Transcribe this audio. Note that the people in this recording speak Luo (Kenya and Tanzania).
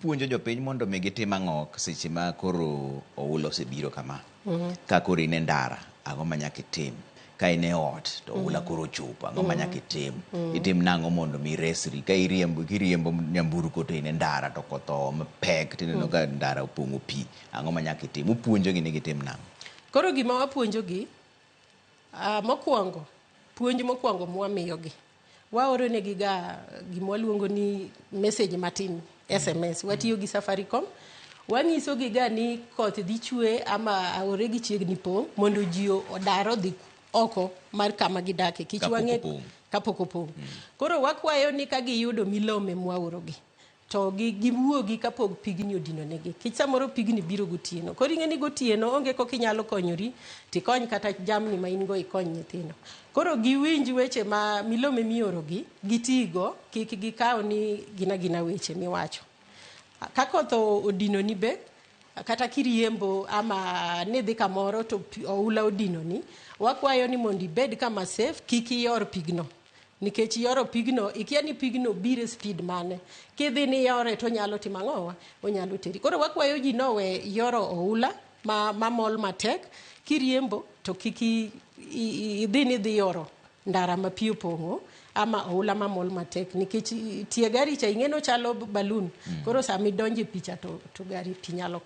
Puonjo jopiny mondo omi gitim ang'o seche ma koro oula osebiro kama? Ka koro in e ndara, ang'o ma nyaka itim? Ka in e ot to oula koro ochopo, ang'o ma nyaka itim? Itim nang'o mondo omi iresri? Ka iriembo kiriembo nyamburko to in e ndara to koth oo mapek tineno ka ndara opong'o pi, ang'o ma nyaka itim? Upuonjogi ni gitim nang'o? Koro gima wapuonjogi, ah, mokwongo, puonj mokwongo mwamiyogi Waoronegiga gima waluongo ni message matin, SMS. Watiyo gi Safaricom. Wanyisogiga ni koth dhi chwe ama aore gi chiegni pong' mondo ji odar odhi oko mar kama gidake. Kich Kapok wang'e opong'. kapok opong'. Koro wakwayo ni ka giyudo milome mwaorogi, to gi giwuogi kapog pigni odinonegi kech samoro pigni biro gotieno koro ing'e ni gotieno onge kok inyalo konyori tikony kata jamni ma in go ikony nyithindo koro giwinj weche ma milome miorogi gitigo kik gikaw ni gina gina weche miwacho ka koth o- odinoni be kata kiriembo ama nidhi kamoro to pi- oula odinoni wakwayo ni mondo ibed kama safe kik ior pigno nikech yoro pigno ikia ni pigno biro e speed mane kidhi ni yore to onyalo timo ang'owa onyalo teri koro wakwayo ji nowe yoro oula ma, ma mol matek kiriembo to kik i- i- i- idhi ni dhi yoro ndara ma pi opong'o ama oula ma mol matek nikech i- tie gari cha ing'e ni ochalo balun koro sama idonjo e picha to, to gari pi nyalo ka